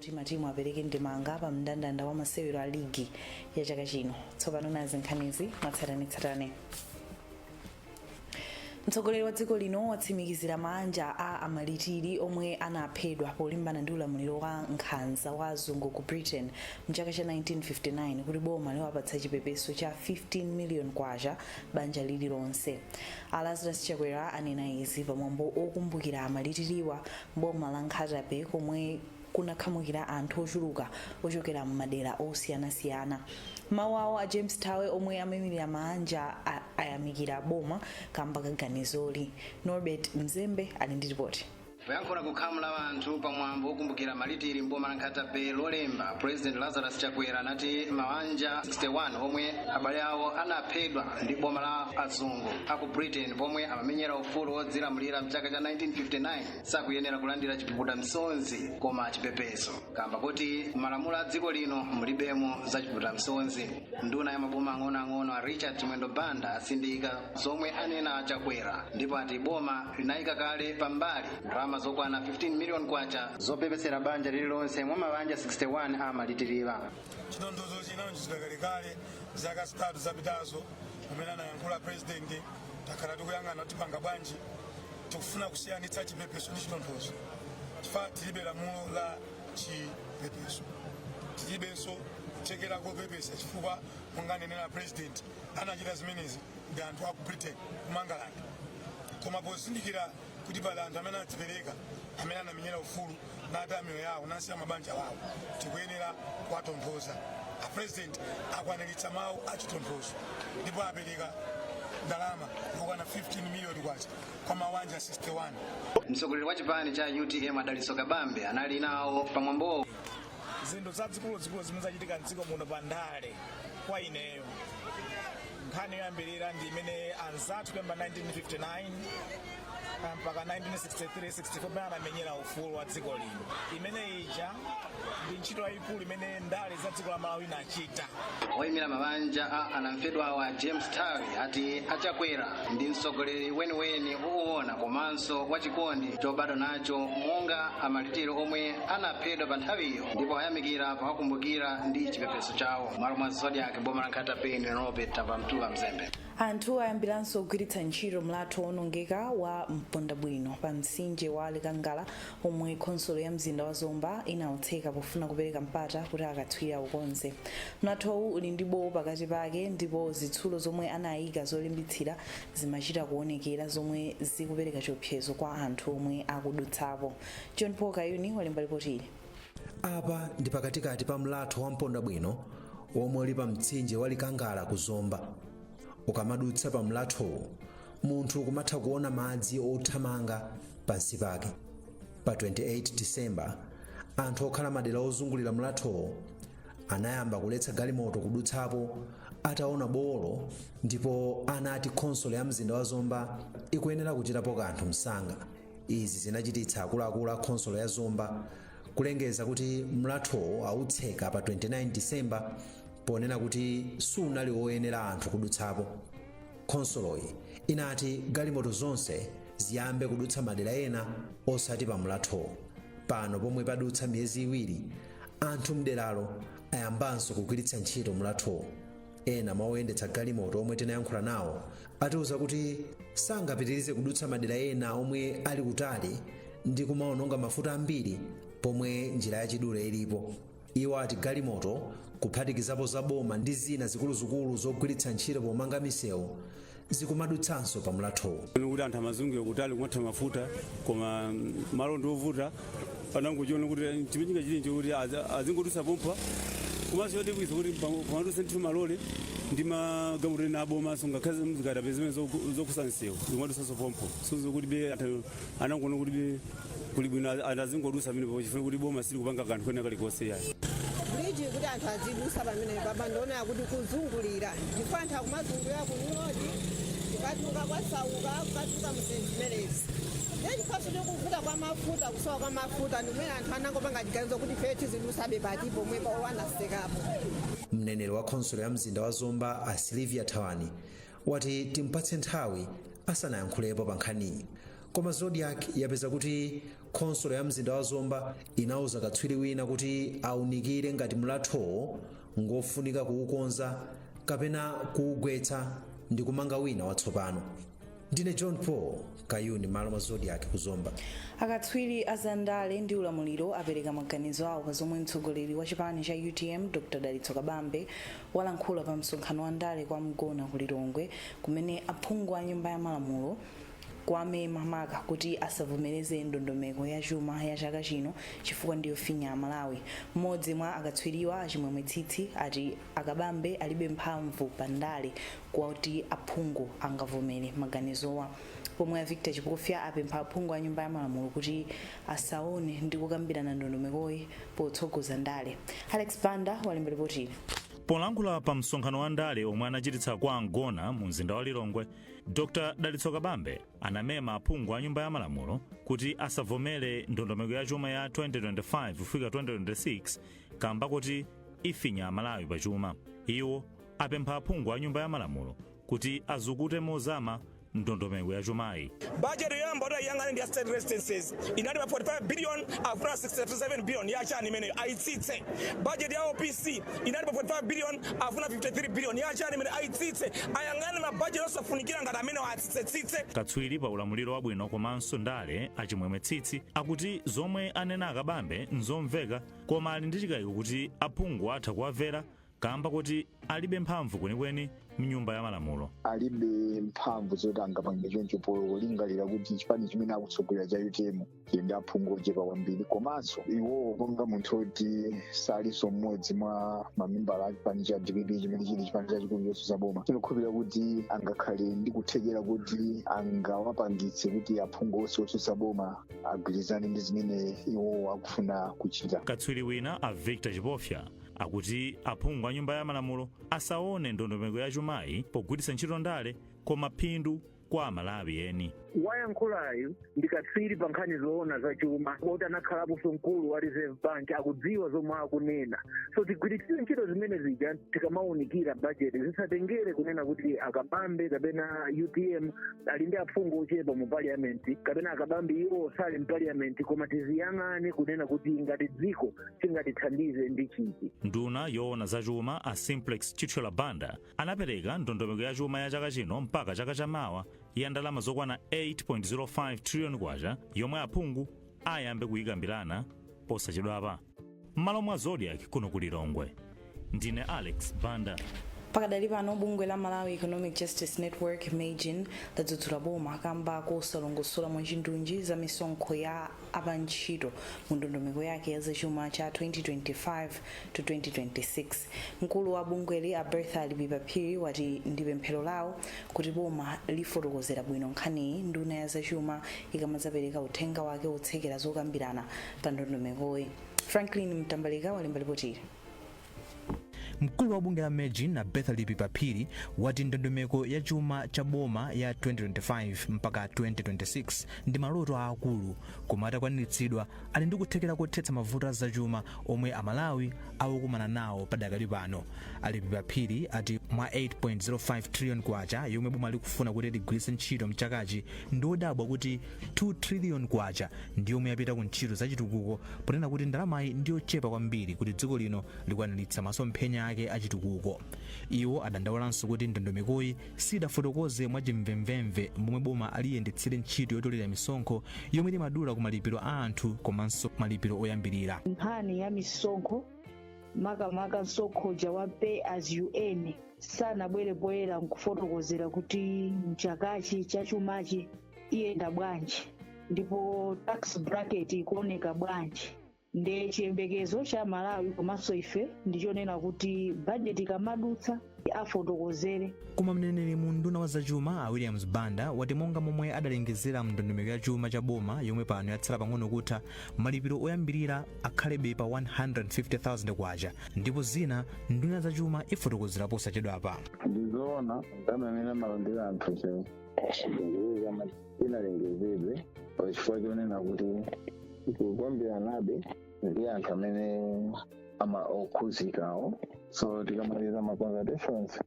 kuti matimu apereke ndemanga pa mndandanda wa masewero a ligi ya chaka chino tsopano nazi nkhanizi mwatsatanetsatane mtsogoleri wa dziko lino watsimikizira maanja a amalitiri omwe anaphedwa polimbana ndi ulamuliro wa nkhanza wa azungu ku britain mchaka cha 1959 kuti boma liwapatsa chipepeso cha 15 million kwacha banja lililonse a lazarus chakwera anena izi pamwambo okumbukira amalitiriwa m'boma la nkhata bay komwe kunakhamukira anthu ochuluka ochokera m'madera osiyanasiyana m'mawu awo a james thawe omwe amayimirira maanja ayamikira boma kamba ka ganizoli norbert mzembe ali ndi ripoti poyankhula ku khamu la anthu pa mwambo wokumbukira amalitiri mboma la nkhata bay lolemba president lazarus chakwera anati mawanja 61 omwe abale awo anaphedwa ndi boma la azungu aku britain pomwe amamenyera ufulu wodzilamulira mchaka cha 1959 sakuyenera kulandira chipukuta msonzi koma chipepeso kamba kuti malamulo a dziko lino mulibemo za chipukuta msonzi nduna ya maboma ang'onoang'ono a richard chimwendo banda atsindika zomwe anena a chakwera ndipo ati boma linayika kale pambali ndalama zokwana 15 miliyoni kwacha zopepesera banja lililonse mwa mabanja 61 amalitiriwa chitonthozo chinalonjezidwa kalekale zaka zitatu zapitazo pamene anayankhula president takhala tikuyang'ana kuti tipanga bwanji tikufuna kusiyanitsa chipepeso ndi chitonthozo chifukwa tilibe lamulo la chipepeso tilibenso kuthekera kopepesa chifukwa monga ananenera president anachita zimenezi ndi anthu aku britain kumangalanda koma pozindikira kuti pali anthu amene anadzipereka amene anamenyera ufulu nataya miyoyo yawo nasiya mabanja wawo tikuyenera kuwatonthoza a president akwaniritsa mawu achitonthozo ndipo apereka ndalama yokwana 15 miliyoni kwacha kwa mawanja 61 mtsogoleri wa chipani cha utm a dalitso kabambe anali nawo pamwambowo zinthu zazikuluzikulu zimene zachitika mdziko muno pa ndale kwa ineyo nkhani yoyambirira ndi imene anzathu kuyamba 1959 ah, mpaka 1963 64 pamene anamenyera ufulu wa dziko lino imene ija ndi ntchito yayikulu imene ndale za dziko la malawi inachita oyimira mabanja a anamfedwawa a james thawe ati a chakwera ndi mtsogoleri weniweni woona komanso wachikondi chobadwa nacho monga amalitiri omwe anaphedwa pa nthawiyo ndipo ayamikira powakumbukira ndi chipepeso chawo m'malo mwa zodiak m'boma la nkhata bay ndine norbert tapamtula mzembe anthu ayambiranso kugwiritsa ntchito mlatho wonongeka wa mpondabwino pa mtsinje wa likangala omwe khonsolo ya mzinda wa Zomba inautseka pofuna kupereka mpata kuti akatswiri aukonze. Mlathowu uli ndi bowo pakati pake ndipo zitsulo zomwe anaika zolimbitsira zimachita kuonekera zomwe zikupereka chiopsezo kwa anthu omwe akudutsapo. John Paul Kayuni walemba lipoti ili. Apa ndi pakatikati pa mlatho wa Mpondabwino womwe uli pa mtsinje wa Likangala ku Zomba. Ukamadutsa pa mlathowu munthu kumatha kuona madzi othamanga pansi pake pa 28 disemba anthu okhala madera ozungulira mlathowo anayamba kuletsa galimoto kudutsapo ataona bowolo ndipo anati khonsolo ya mzinda wa zomba ikuyenera kuchitapo kanthu msanga izi zinachititsa akuluakulu a khonsolo ya zomba kulengeza kuti mlathowo autseka pa 29 disemba ponena kuti sunali woyenera anthu kudutsapo Khonsoloyi inati galimoto zonse ziyambe kudutsa madera ena osati pa mlathowo. Pano pomwe padutsa miyezi iwiri, anthu m'deralo ayambanso kugwiritsa ntchito mlathowo. Ena mwa oyendetsa galimoto omwe tinayankhula nawo atiuza kuti sangapitirize kudutsa madera ena omwe ali kutali ndi kumaononga mafuta ambiri pomwe njira yachidule ilipo. Iwo ati galimoto kuphatikizapo za boma ndi zina zikuluzikulu zogwiritsa ntchito pomanga misewu zikumadutsanso pa mlathowu. Kuti anthu amazungulira kutali kumatha mafuta koma mm, malo ndi ovuta anangochiona kuti eh, chimene chingachite nje kuti azi- azingodutsa pompa komanso yoti bwinsa kuti pam- pamadutsa ndithu malole ndi magalimoto ena abomanso ngakhale zikatapila zimene zokusa msewu zikumadutsanso pompo sozo kuti be anthu anangoona kuti kuli bwino anthu azingodusa pamenepo chifukwa kuti boma silikupanga kanthu kena kalikonse yayi bridge kuti anthu azidusa pamenepa poona kuti kuzungulira ndipo anthu akumazungulira kunyodi kukatuka kwasauka kukatuka muzinthu zimenezi nde chifukwaso cha kuvuta kwa mafuta kusowa kwa mafuta ndimene anthu anangopanga chiganizo kuti fe tizidusabe pati pomwepa anatsekapo mneneri wa khonsolo ya mzinda wa zomba a Sylvia thawani wati timpatse nthawi asanayankhulepo pa nkhaniyi koma zodiak yapeza kuti khonsolo ya mzinda wa zomba inauza katswiri wina kuti aunikire ngati mlathowo ngofunika kuukonza kapena kuugwetsa ndi kumanga wina watsopano ndine john paul Kayuni m'malo mwa Zodiak ku Zomba. Akatswiri a za ndale ndi ulamuliro apereka maganizo awo pa zomwe mtsogoleri wa chipani cha utm Dr Dalitso Kabambe walankhula pa msonkhano wa ndale kwa Mgona ku Lilongwe kumema aphungu a nyumba ya malamulo kuwamema maka kuti asavomereze ndondomeko ya chuma ya chaka chino chifukwa ndiyofinya Amalawi. Mmodzi mwa akatswiriwa a Chimwemwe Tsitsi ati a Kabambe alibe mphamvu pa ndale kwakuti aphungu angavomere maganizowa, pomwe a Victor Chipofya apempha aphungu a Nyumba ya Malamulo kuti asaone ndi kukambirana ndondomekoyi potsogoza ndale. Alex Banda walemba lipotili. Polankhula pa msonkhano wa ndale omwe anachititsa kwa Mgona mu mzinda wa Lilongwe, Dr Dalitso Kabambe anamema aphungu a Nyumba ya Malamulo kuti asavomere ndondomeko ya chuma ya 2025 kufika 2026 kamba koti ifinya Amalawi pa chuma. Iwo apempha aphungu a Nyumba ya Malamulo kuti azukute mozama ndondomeko ya chumayi. Bajeti yoyamba kuti ayiyang'ane ndi ya state residences inali pa 45 billion akufuna 67 billion ya chani imeneyo ayitsitse. Bajeti ya OPC inali pa 45 billion akufuna 53 billion ya chani imeneyo ayitsitse. Ayang'ane mabajeti osafunikira ngati amenewa atsitsetsitse. Katswiri pa ulamuliro wabwino komanso ndale a Chimwemwe Tsitsi akuti zomwe anena a Kabambe n'zomveka koma ali ndi chikaiko kuti aphungu atha kuwamvera kaamba koti alibe mphamvu kwenikweni m'nyumba ya malamulo. alibe mphamvu zoti angapange choncho polingalira kuti chipani chimene akutsogolera cha utm chili ndi aphungu ochepa kwambiri komanso iwowo monga munthu oti salinso mmodzi mwa mamembala a chipani cha dpp chimene chili chipani chachikulu chotsutsa boma sindikukhulupirira kuti angakhale ndi kuthekera kuti angawapangitse kuti aphungu onse otsutsa boma agwirizane ndi zimene iwowo akufuna kuchita Katswiri wina a Victor Chipofya akuti aphungu a nyumba ya malamulo asaone ndondomeko ya chumayi pogwiritsa ntchito ndale koma phindu kwa amalawi eni wayankhulayu ndi katswiri pa nkhani zoona za chuma oti anakhalaponso mkulu wa reserve bank akudziwa zomwe akunena so tigwiritsire ntchito zimene zija tikamaunikira bajeti zisatengere kunena kuti akabambe kapena utm ali ndi aphungu ochepa mu parliament kapena akabambe iwo sali mu parliament koma tiziyang'ane kunena kuti ngati dziko chingatithandize ndi chiti nduna yoona za chuma a simplex chithyola banda anapereka ndondomeko ya chuma ya chaka chino mpaka chaka cha mawa ya ndalama zokwana 8.05 trillion kwacha yomwe aphungu ayambe kuyikambirana posachedwapa m'malo mwa zodiac kuno ku lilongwe ndine alex banda pakadali pano bungwe la malawi economic justice network mejn ladzudzula boma kamba kosalongosola mwachindunji za misonkho ya apantchito mu ndondomeko yake ya zachuma cha 2025 to 2026 mkulu wa bungweli a bertha lipipa phiri wati ndi pemphero lawo kuti boma lifotokozera bwino nkhaniyi nduna ya zachuma ikamadzapereka uthenga wake wotsekera zokambirana pa ndondomekoyi franklin mtambalika walemba lipotili Mkulu wa bungwe la Mejn a Bertha Lipipa Phiri wati ndondomeko ya chuma cha boma ya 2025 mpaka 2026 ndi maloto aakulu koma atakwaniritsidwa ali ndi kuthekera kothetsa mavuto a zachuma omwe Amalawi akukumana nawo padakali pano. A Lipipa Phiri ati mwa 8.05 trillion kwacha yomwe boma likufuna kuti ligwiritse ntchito mchakachi ndi odabwa kuti 2 trillion kwacha ndiyomwe yapita ku ntchito za chitukuko ponena kuti ndalamayi ndiyochepa kwambiri kuti dziko lino likwaniritsa masomphenya ake a chitukuko. Iwo adandaulanso kuti ndondomekoyi sidafotokoze mwa chimvemvemve momwe boma liyendetsere ntchito yotolera misonkho yomwe limadula ku malipiro a anthu komanso malipiro oyambirira. Nkhani ya misonkho makamaka msonkho uja wa pay as you earn sanabwere poyera nkufotokozera kuti mchakachi chachumachi iyenda bwanji ndipo tax bracket ikuoneka bwanji nde chiyembekezo cha amalawi komanso ife ndichonena kuti bajeti ikamadutsa afotokozere koma mneneri mu unduna wa zachuma a williams banda wati monga momwe adalengezera mndondomeko ya chuma cha boma yomwe pano yatsala pang'ono kutha malipiro oyambirira akhalebe pa 150,000 kwacha ndipo zina nduna ya zachuma ifotokozera posachedwapa ndizoona ndamene amalandira anthu chero kuweza sinalengezedwe pa chifukwa chonena kuti tikukambiranabe ndi anthu amene ama okhuzikawo so tikamaliza ma consultations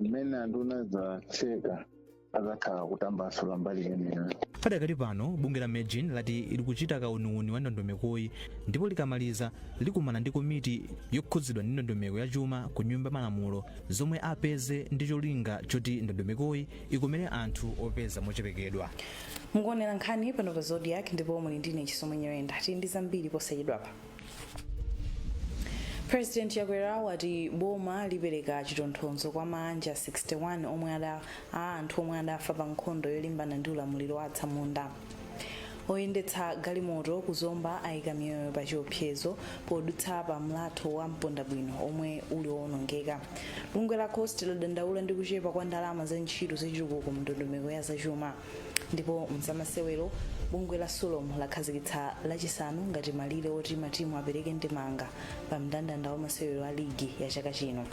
mmene anduna adzatseka adzakhala akutambasula mbali imeneyo padakali pano bungwe la mejn lati likuchita kauniuni wa ndondomekoyi ndipo likamaliza likumana ndi komiti yokhudzidwa ndi ndondomeko ya chuma ku nyumba ya malamulo zomwe apeze ndi cholinga choti ndondomekoyi ikomere anthu opeza mochepekedwa mukuonera nkhani pano pa zodiak ndipo muli ndi ine chisomo nyirenda tili ndi zambiri posachedwapa president chakwera wati boma lipereka chitonthozo kwa maanja 61 omwe ada a anthu omwe adafa pa nkhondo yolimbana ndi ulamuliro wa atsamunda oyendetsa galimoto ku zomba ayika miyoyo pa chiopsezo podutsa pa mlatho wa mpondabwino omwe uli owonongeka bungwe la cost ladandaula ndi kuchepa kwa ndalama za ntchito zachitukuko mndondomeko ya zachuma ndipo mzamasewero bungwe la sulom lakhazikitsa lachisanu ngati malire oti matimu apereke ndemanga pa mndandanda wa masewero a ligi ya chaka chino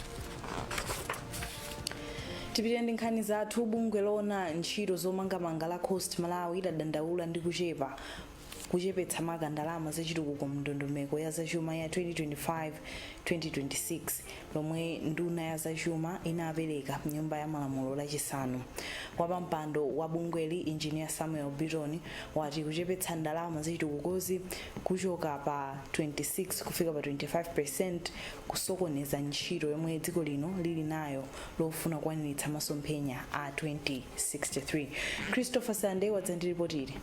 tipitire ndi nkhani zathu bungwe loona ntchito zomangamanga la cost malawi ladandaula ndi kuchepa kuchepetsa maka ndalama zachitukuko mu ndondomeko ya zachuma ya 2025-2026 lomwe nduna ya zachuma inapereka mnyumba ya malamulo lachisanu wapampando wa bungweli injiniya samuel biton wati kuchepetsa ndalama zachitukukozi kuchoka pa 26 kufika pa 25 percent kusokoneza ntchito yomwe dziko lino lili nayo lofuna kukwaniritsa masomphenya a 2063. Christopher Sande wadza ndi lipoti ili.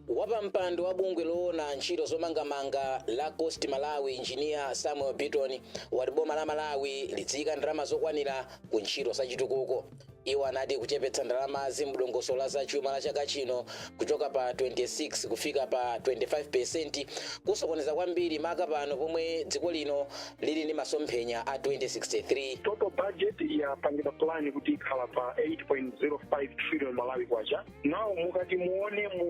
Wapampando wa bungwe loona ntchito zomangamanga la CoST Malawi Engineer Samuel Biton wati boma la Malawi lidziika ndalama zokwanira ku ntchito zachitukuko. Iwo anati kuchepetsa ndalamazi mudongosolo la zachuma la chaka chino kuchoka pa 26 kufika pa 25% kusokoneza kwambiri maka pano pomwe dziko lino lili ndi masomphenya a 2063. total budget yapangidwa plan kuti ikhala pa 8.05 trillion malawi kwacha now mukati muone mu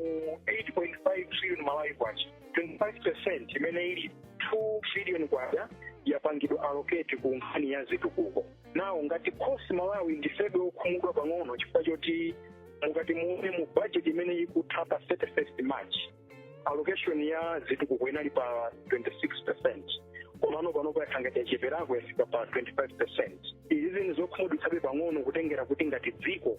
8.05 trillion malawi kwacha 25% imene ili 2 trillion kwacha yapangidwa allocate ku nkhani ya zitukuko now ngati CoST Malawi ndifebe okhumudwa pang'ono chifukwa choti mukati muone mu budget imene ikutha pa 31st march allocation ya zitukuko inali pa 26 percent komano panopo yakhala ngati yacheperako yafika pa 25 percent izi ndi zokhumudwitsabe pang'ono kutengera kuti ngati dziko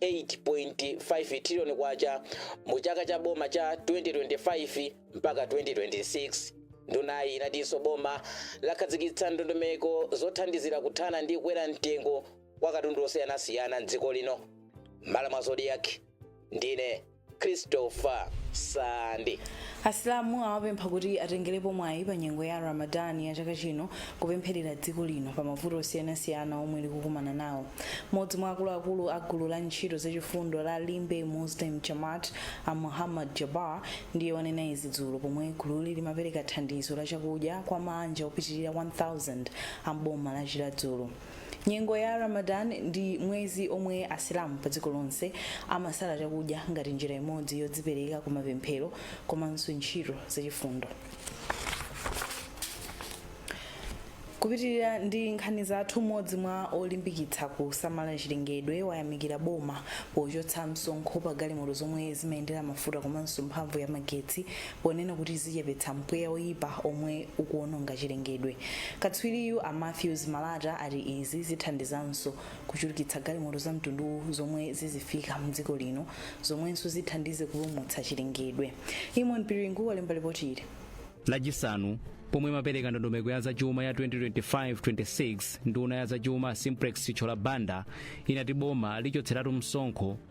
8.5 trillion kwacha mu chaka cha boma cha 2025 mpaka 2026. Ndunayi inatinso boma lakhazikitsa ndondomeko zothandizira kuthana ndi kukwera mtengo kwa katundu osiyanasiyana m'dziko lino. M'malo mwa Zodiak, ndine Christopher Sande. asilamu awapempha kuti atengerepo mwayi pa nyengo ya ramadan ya chaka chino kupempherera dziko lino pa mavuto osiyanasiyana omwe likukumana nawo mmodzi mwa akuluakulu a gulu la ntchito zachifundo la limbe muslim jamaat a muhammad jabar ndiye wanena izi dzulo pomwe gululi limapereka thandizo la chakudya kwa maanja opitirira 1000 a mboma la chiradzulu Nyengo ya Ramadan ndi mwezi omwe Asilamu pa dziko lonse amasala chakudya ngati njira imodzi yodzipereka ku mapemphero komanso ntchito zachifundo. Kupitirira ndi nkhani zathu, mmodzi mwa olimbikitsa kusamala chilengedwe wayamikira boma pochotsa msonkho pa galimoto zomwe zimayendera mafuta komanso mphamvu ya magetsi ponena kuti zichepetsa mpweya woyipa omwe ukuononga chilengedwe. Katswiriyu a Mathews Malata ati izi zithandizanso kuchulukitsa galimoto za mtunduwu zomwe zizifika mdziko lino zomwenso zithandize kupulumutsa chilengedwe. Eamon Piringu walemba lipoti ili. Lachisanu pomwe imapereka ndondomeko ya zachuma ya 2025 26, nduna ya zachuma a Simplex Chithyola Banda inati boma lichotseratu msonkho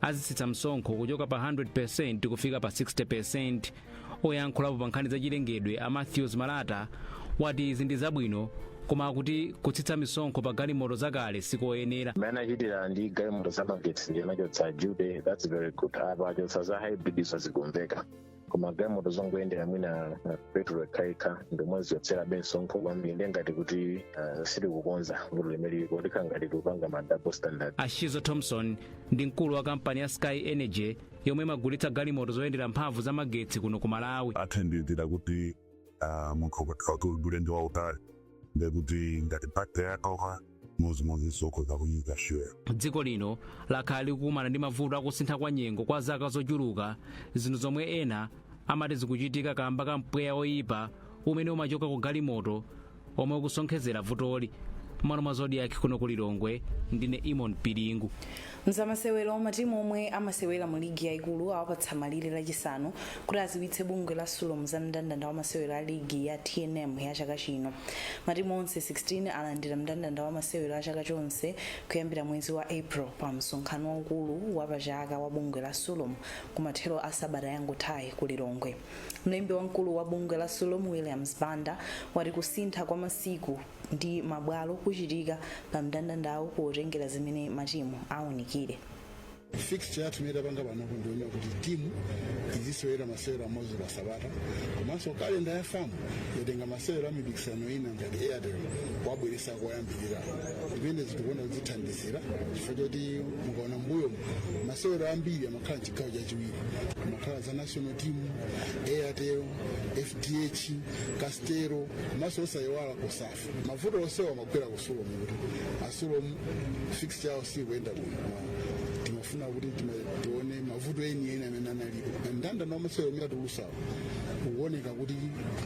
azitsitsa msonkho kuchoka pa 100% kufika pa 60% oyankhulapo pa nkhani zachilengedwe a matthews malata wati izi ndi zabwino koma akuti kutsitsa misonkho pa galimoto zakale sikoyenera mmene achitira ndi galimoto zamagetsi ndi anachotsa duty that's very good apa achotsa za hybrid izo zikumveka koma galimoto zongoyendera mwina uh, petulo yokhayokha ndomwe zichotsera misonkho kwambiri ndiye ngati kuti uh, sitikukonza vuto limeneli kokhala ngati tikupanga ma double standard a schizzo thomson ndi mkulu wa kampani ya sky energy yomwe imagulitsa galimoto zoyendera mphamvu za magetsi kuno ku malawi athandizira kuti ah, munthu ukakhala kuti uli ulendo wautali ndekuti ngati batire yatha momwemonso ukhoza kuyika shuyo dziko lino lakhala likukumana ndi mavuto akusintha kwa nyengo kwa zaka zochuluka zinthu zomwe ena amati zikuchitika kamba ka mpweya oyipa umene umachoka ku galimoto omwe ukusonkhezera vutoli mmalo mwa zodiac kuno ku lilongwe ndine eamon piringu mzamasewero matimu omwe amasewera mu ligi yaikulu awapatsa malire lachisanu kuti aziwitse bungwe la sulom za mndandanda wa masewero a ligi ya tnm ya chaka chino matimu onse 16 alandira mndandanda wa masewero a chaka chonse kuyambira mwezi wa april pa msonkhano waukulu wa pachaka wa bungwe la sulom kumathero a sabata yangothayi ku lilongwe Mlembi wamkulu wa bungwe la Sulom Williams Banda wati kusintha kwa masiku ndi mabwalo kuchitika pa mndandandawu potengera zimene matimu aunikire. fixture yathu imene tapanga panopo ndiyonena kuti timu izisewera masewero amodzi pa sabata komanso kalenda ya fam yatenga masewero a mipikisano ina ngati airtel aibweresa koyambirira zimene tikuona kuti zithandizira chifukwa choti mukaona mbuyo masewero ambiri amakhala mchigawo chachiwiri amakhala za national team airtel fdh castel komanso osayiwala cosafa mavuto onsewa amagwera ku sulom kuti a sulom fixture yawo sikuyenda bwino timafuna kuti tima- tione mavuto eni eni amene analipo mndandanda wa masewero amene atulusawo ukuoneka kuti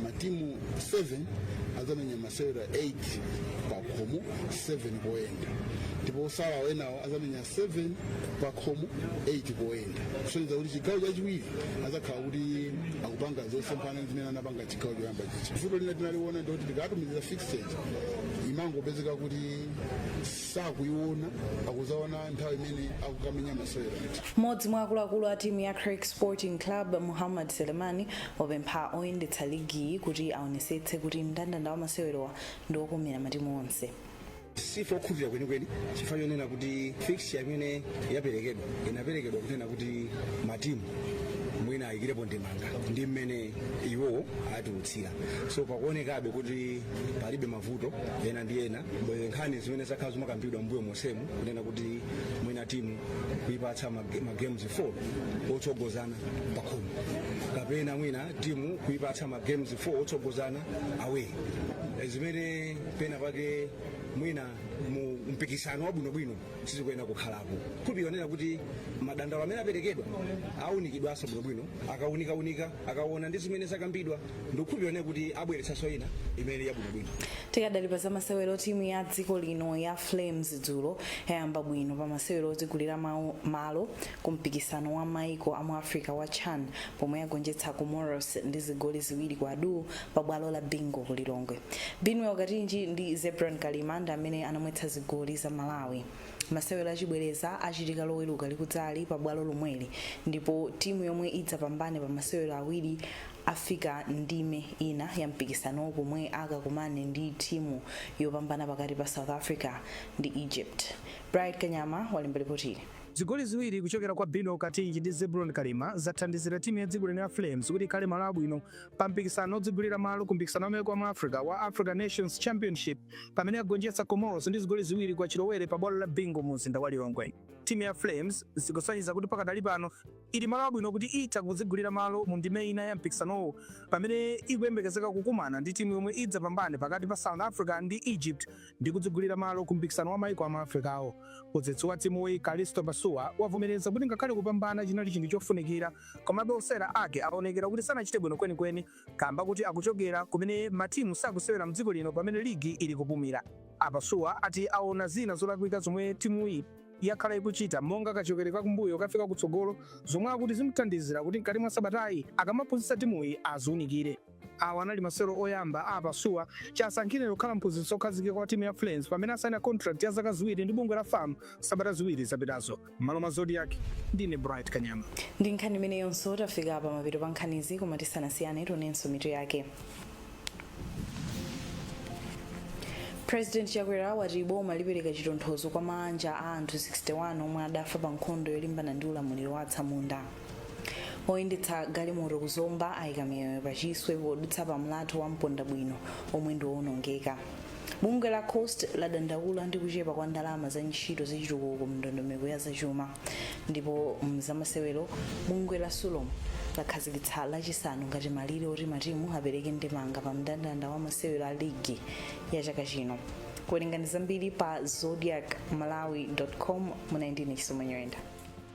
matimu 7 azamenya masewero 8 pakhomo 7 poyenda ndipo otsalawo enawo azamenya 7 pakhomo 8 poyenda kusonyeza kuti chigawo chachiwiri azakhala kuti akupanga zosemphana zimene anapanga mchigawo choyamba chija vuto lina tinaliona ndikuti tikatumiza fixture imangopezeka kuti sakuiona akuzaona nthawi imene akukamenya masewero mmodzi mwa akuluakulu a timu ya creck sporting club muhammad selemani wapempha oyendetsa ligiyi kuti aonesetse kuti mndandanda wa masewerowa ndi okomera matimu onse sife okhutira kwenikweni chifukwa chonena kuti fixture imene yaperekedwa inaperekedwa kunena kuti matimu mwina ayikirepo ndemanga ndi mmene iwowo atulutsira so pakuonekabe kuti pali be mavuto ena ndi ena bwere nkhani zimene zakhala zikukambidwa mbuyo monsemu kunena kuti mwina timu kuipatsa mag- magames 4 otsogozana pakhomo kapena mwina timu kuipatsa magames 4 otsogozana away zimene pena pake mwina mu mpikisano wabwinobwino sizikuyenera kukhalapo kupionera kuti madandaulo amene aperekedwa aunikidwanso bwinobwino akaunikaunika akaona ndi zimene zakambidwa ndi kupionera kuti abweretsanso ina imene yabwinobwino tikadali pa zamasewero timu ya dziko lino ya flames dzulo yayamba bwino pa masewero odzigulira malo ku mpikisano wa maiko amu Africa wa chan pomwe yagonjetsa Comoros ndi zigoli ziwiri kwa duu pa bwalo la Bingu ku Lilongwe. Binwell Katinji ndi Zebron Kalima ndi amene anamwetsa zigoli za Malawi. Masewero achibwereza achitika loweruka likudzali pa bwalo lomweli ndipo timu yomwe idzapambane pa masewero awiri afika ndime ina ya mpikisanowu pomwe akakumane ndi timu yopambana pakati pa South Africa ndi Egypt. Bright Kanyama walemba lipotili. Zigoli ziwiri kuchokera kwa Binwell Katinji ndi Zebron Kalima zathandizira timu ya dziko lino ya Flames kuti ikhale malo abwino pa mpikisano odzigulira malo ku mpikisano wa mayiko a mu Africa wa Africa Nations Championship pamene yagonjetsa Comoros ndi zigoli ziwiri kwa chilowere pa bwalo la Bingu mu mzinda wa Lilongwe. Timu ya Flames zikusonyeza kuti pakadali pano ili malo abwino kuti itha kudzigulira malo mu ndime ina ya mpikisanowu pamene ikuyembekezeka kukumana ndi timu yomwe idzapambane pakati pa South Africa ndi Egypt ndi kudzigulira malo ku mpikisano wa maiko a mu Africa-wo. Mphunzitsi wa timuyi, Kalisto Pasuwa, wavomereza kuti ngakhale kupambana chinali chinthu chofunikira, komabe osewera ake awonekera kuti sanachite bwino kwenikweni kamba kuti akuchokera kumene matimu sakusewera mdziko lino pamene ligi ili kupumira. A Pasuwa ati awona zina zolakwika zomwe timuyi yakhala ikuchita monga kachokere ka kumbuyo kufika kutsogolo zomwe akuti zimuthandizira kuti mkati mwa sabatayi akamaphunzitsa timuyi aziunikire. Awa anali masewero oyamba a Pasuwa chisankhireni kukhala mphunzitsi okhazikika wa timu ya Flames pamene asaina contract ya zaka ziwiri ndi bungwe la fam sabata ziwiri zapitazo. M'malo mwa Zodiak, ndine Bright Kanyama. Ndi nkhani imeneyonso tafika pa mapeto pa nkhanizi koma tisanasiyane tionenso mitu yake. President Chakwera wati boma lipereka chitonthozo kwa maanja a anthu 61 omwe adafa pa nkhondo yolimbana ndi ulamuliro wa atsamunda. oyendetsa galimoto ku zomba ayika miyoyo pachiswe podutsa pa mlatho wa mponda bwino omwe ndi owonongeka bungwe la coast ladandaula ndi kuchepa kwa ndalama za ntchito zachitukuko mndondomeko ya zachuma ndipo mzamasewero bungwe la sulom lakhazikitsa lachisanu ngati malire oti matimu apereke ndemanga pa mndandanda wa masewero a ligi ya chaka chino werengani zambiri pa zodiak malawi com mu 19 chisomo nyoyenda